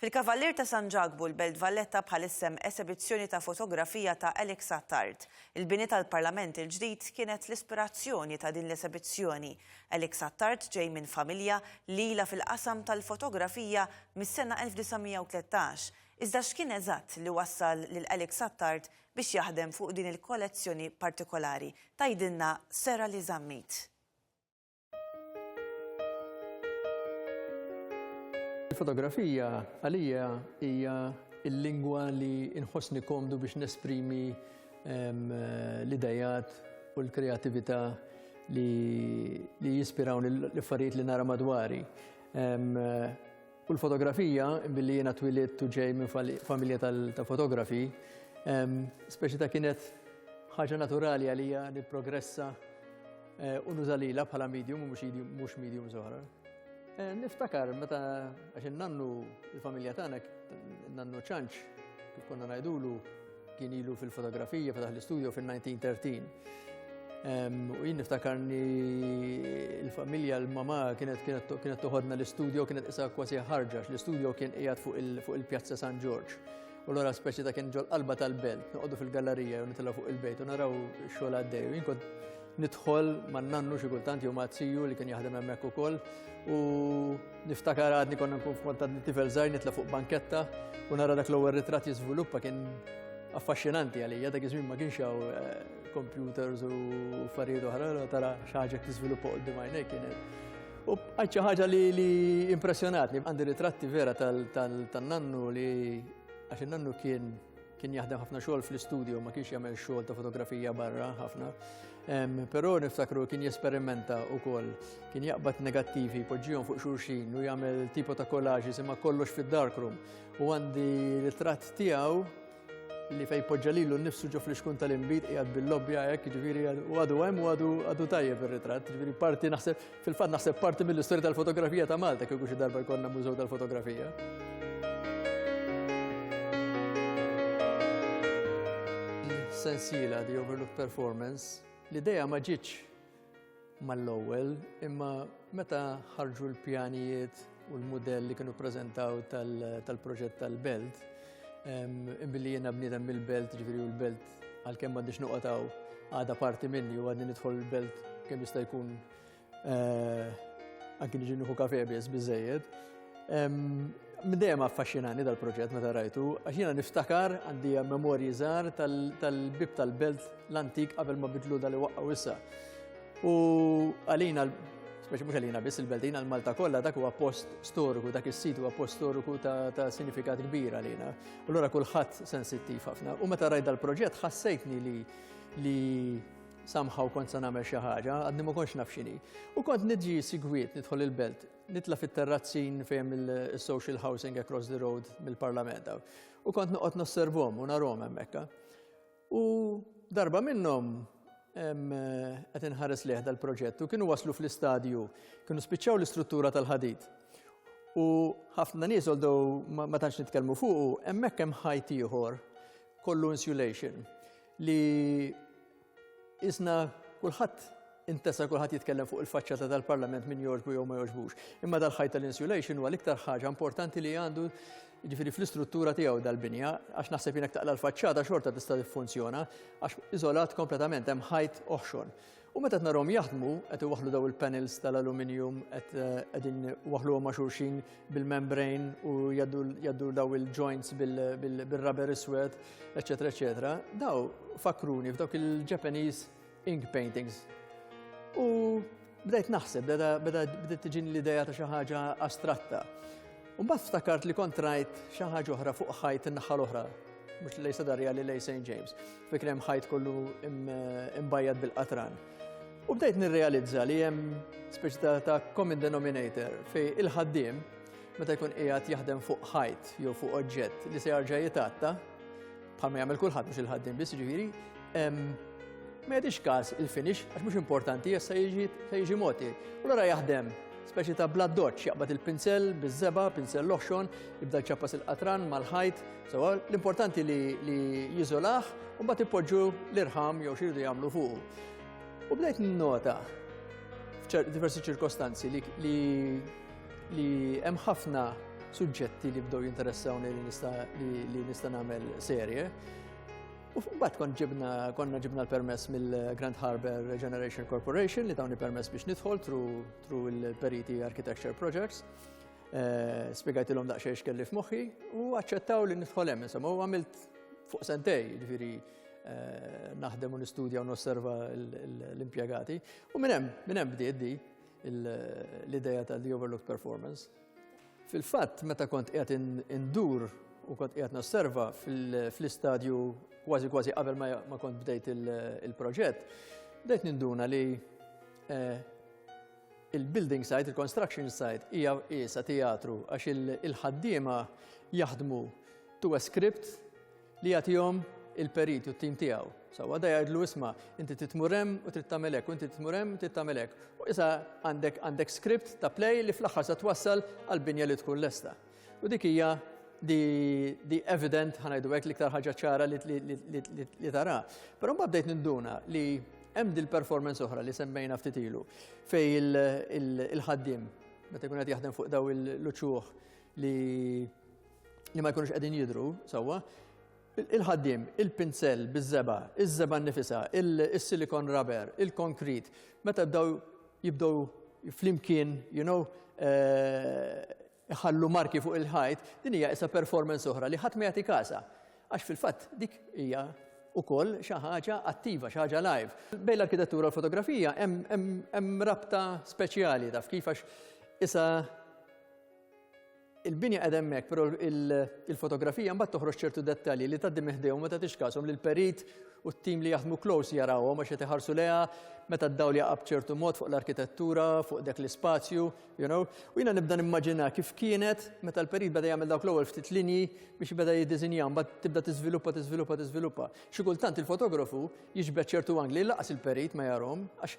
Fil-Kavallier ta' San Ġakbu, l-Belt Valletta bħalissa hemm esebizzjoni ta' fotografija ta' Alex Attard. Il-bini tal-Parlament il-ġdid kienet l-ispirazzjoni ta' din l-esebizzjoni. Alex Attard ġej minn familja li ilha fil-qasam tal-fotografija mis-sena 1913. Iżda x'kien eżatt li wassal lil Alex Attard biex jaħdem fuq din il-kollezzjoni partikolari? Tgħidilna Sara Li Zammit. Il-fotografija għalija hija il-lingwa li nħossni komdu biex nesprimi l-idejat u l-kreativita li jispiraw l-affarijiet li nara madwari. Kull fotografija, billi jiena twilidt u ġej minn familja tal-fotografi, speċi ta' kienet ħaġa naturali għalija li progressa eh, u nuża lila bħala medium u mhux medium zoħra. Eh, niftakar meta għax nannu l-familja tagħna nannu ċanċ kif konna ngħidulu Kien ilu fil-fotografija, fetaħ l-istudio fil-1913. U jien niftakarni il-familja, l-mama kienet kienet toħodna l-istudio, kienet isa kwasi ħarġax, l-istudio kien qiegħed fuq il-Pjazza San Ġorġ. U l-għora speċi ta' kien ġol qalba tal-belt, noqogħdu fil-gallerija u nitla fuq il-bejt u naraw xogħol għaddej. U jien nidħol man nannu xi kultant jew ma' li kien jaħdem hemmhekk ukoll u Niftakar għadni konna nkun f'kontat li tifel żgħir nitla' fuq banketta u nara dak l-ewwel ritratt jiżviluppa kien affaxxinanti għalija dak iż-żmien ma kienx hawn eh, computers u affarijiet oħra tara xi ħaġa tiżviluppa qudiem għajnejk kienet. U għadċa ħaġa li impressjonatni, għandi ritratti vera tal-nannu li għax nannu kien Kien jaħdem ħafna xogħol fl-istudio, ma kienx jagħmel xogħol ta' fotografija barra ħafna. Però niftakru kien jesperimenta wkoll, kien jaqbad negattivi, poġġihom fuq xulxin u jagħmel tipo ta' kollaġi jisimha kollox fid-darkroom. U għandi ritratt tiegħu li fej poġġa lilu nnifsu ġo fl-iskun tal-imbit qiegħed bil-lobbja hekk, ġifieri u għadu hemm u għadu tajjeb ir-ritratt, ġifieri parti naħseb Fil-fatt naħseb parti mill-istorja tal-fotografija ta' Malta kieku xi darba jkollna mużew tal-fotografija. Sensiela di Overlook Performance li dejja ma ġietx mal-ewwel imma meta ħarġu l-pjanijiet u l-mudell li kienu prezentaw tal-proġett tal-belt, billi jena bniedem mill-belt, ġifiri u l-belt għal-kem għandix nuqataw għada parti minni u għadni nidħol il-belt kem jista' jkun eh, anki nġi nħu kafe bies bizzejed. Mdejem affaxxinani dal-proġett meta rajtu, għax jiena niftakar għandi memorji żgħar tal-bib tal-belt l-antik qabel ma bidlu dal-waqqa wissa. U għalina, speċi mhux għalina biss il-Beltin għal Malta kollha dak huwa post storiku, dak is-sit huwa post storiku ta' sinifikat kbir għalina. U lura kulħadd sensittiv ħafna. U meta rajt dal-proġett ħassejtni li li samħaw kont sa nagħmel xi ħaġa, għadni ma kontx naf x'inhi. U kont niġi sigwiet nidħol il-belt, nitla fit-terrazzin fejn il-social housing across the road mill-parlament. U kont noqgħod nosservom u narhom hemmhekk. U darba minnhom qed inħares leħ dal-proġett u kienu waslu fl-istadju, kienu spiċċaw l-istruttura tal-ħadid. U ħafna nies għoldu ma tantx nitkellmu fuqu, hemmhekk hemm ħajt ieħor kollu insulation li isna kulħadd Intesa kulħadd jitkellem fuq il-faċċata tal-Parlament min jogħġbu jew ma jogħġbux. Imma dal-ħajt tal-insulation huwa l-iktar ħaġa importanti li għandu ġifiri fl-istruttura tiegħu dal-binja, għax naħseb jinek taqla l-faċċata xorta tista' tiffunzjona, għax iżolat kompletament hemm ħajt oħxon. U meta narom jaħdmu, qed iwaħlu daw il-panels tal-aluminium, qed eh, qegħdin waħlu ma' xulxin bil-membrane u jaddu daw il-joints bil-rubber iswed, eċetera, eċetera. Daw fakruni f'dawk il-Japanese ink paintings. U bdejt naħseb, bdejt tiġini l-ideja ta' xi ħaġa astratta. U mbagħad ftakart li kont rajt xi ħaġa oħra fuq ħajt in-naħa l-oħra, mhux lej Sadarja li lej St. James. Fikri hemm ħajt kollu imbajjad bil-qatran. U bdejt nirrealizza li hemm speċi ta' common denominator fej il-ħaddiem meta jkun qiegħed jaħdem fuq ħajt jew fuq oġġett li se jarġa' jitatta, bħal ma jagħmel kulħadd mhux il-ħaddiem biss ġifieri, ma jadix każ il-finish għax mhux importanti jessa jiġi moti. U l jaħdem speċi ta' blood doċ, jaqbad il-pinsel, bizzeba, pinsel loħxon, jibda ċappas il-qatran mal-ħajt, sewa l-importanti li jizolaħ, u bat ipoġġu l-irħam jew xirdu jagħmlu fuq. U bdejt nota f'diversi ċirkostanzi li Li hemm ħafna suġġetti li bdew jinteressawni li nista' li nista' nagħmel serje. U mbagħad kont ġibna konna ġibna l-permess mill-Grand Harbor Regeneration Corporation li tawni permess biex nidħol tru il-Periti Architecture Projects. Eh, Spiegħajtilhom daqsxejn x'kelli f'moħħi u aċċettaw li nidħol hemm insomma u għamilt fuq sentej, ġifieri Eh, naħdem u nistudja u nosserva l-impjegati. U minn hemm, minn hemm bdiet di. l-ideja ta' the overlooked performance. Fil-fatt, meta kont qiegħed indur u kont qiegħed nosserva fl-istadju kważi kważi qabel ma kont bdejt il-proġett, bdejt ninduna li eh, il-building site, il-construction site, hija isa teatru għax il-ħaddiema jaħdmu to a script Li jagħtihom il-perit u t-tim tiegħu. Sawa da jgħidlu isma' inti titmur hemm u trid tagħmel hekk, u inti titmur hemm trid tagħmel hekk. U issa għandek għandek script ta' play li fl-aħħar se twassal għal binja li tkun lesta. U dik hija di evident ħanajdu hekk l-iktar ħaġa ċara li tara. Però mbagħad bdejt ninduna li hemm dil-performance oħra li semmejna ftit ilu fej il-ħaddim meta jkun qed jaħdem fuq daw il-luċuħ li li ma jkunux qegħdin jidhru sewwa, il-ħaddim, il-pinzell biż-żeba, iż-żeba nifisa, il-silikon rubber, il-konkrit, meta bdew jibdew flimkien, you know, eh, ħallu marki fuq il-ħajt, din hija isa performance oħra li ħadd ma jagħti kasa. Għax fil-fatt dik hija ukoll xi ħaġa attiva, xi ħaġa live. Bejn l-arkitettura u l-fotografija hemm rabta speċjali taf kif għax isa Il-binja qed hemmhekk, però il-fotografija mbagħad toħroġ ċertu dettalji li tgħaddi meħdejhom ma tagħtix każhom lil perit u t-tim li jaħdmu close jarawhom għax qed iħarsu leha meta d-dawl jaqab ċertu mod fuq l-arkitettura, fuq dak l-ispazju, you know. U jiena nibda nimmaġina kif kienet meta l-perit beda jagħmel dawk l-ewwel ftit linji biex beda jiddiżinjahom, bad tibda tiżviluppa, tiżviluppa, tiżviluppa. Xi kultant il-fotografu jiġbed ċertu angli laqas il-perit ma jarhom għax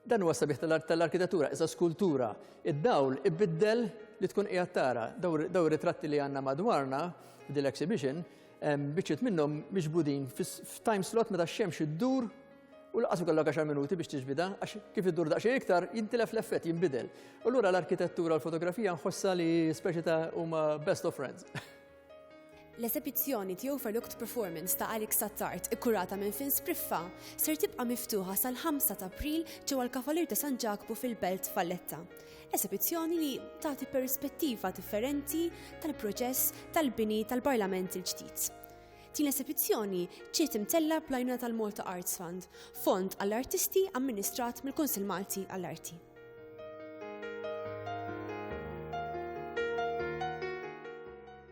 Dan huwa s-sabiħ tal-arkitetura, iżda skultura. Id-dawl ibiddel li tkun qiegħed tara. Daw ritratti li għandna madwarna f'dil exhibition, biċċiet minnhom miġbudin f'time slot meta x-xemx iddur u laqas ikollok 10 minuti biex tiġbida, għax kif iddur daqsxejn iktar jintilef l-effett jinbidel. U lura l-arkitettura u l-fotografija nħossha li speċi ta' huma best of friends. L-esebizzjoni The Overlooked Performance ta' Alex Sattart, ikkurata minn Fin Spriffa, ser tibqa' miftuħa sal-5 ta' April ġewwa l-Kavalier ta' San Ġakbu fil-Belt Valletta. Esebizzjoni li tagħti perspettiva differenti tal-proċess tal-bini tal-Parlament il-ġdid. Din l-esebizzjoni ġiet imtellgħa bl-għajnuna tal-Malta Arts Fund, fond għall-artisti amministrat mill-Kunsill Malti għall-Arti.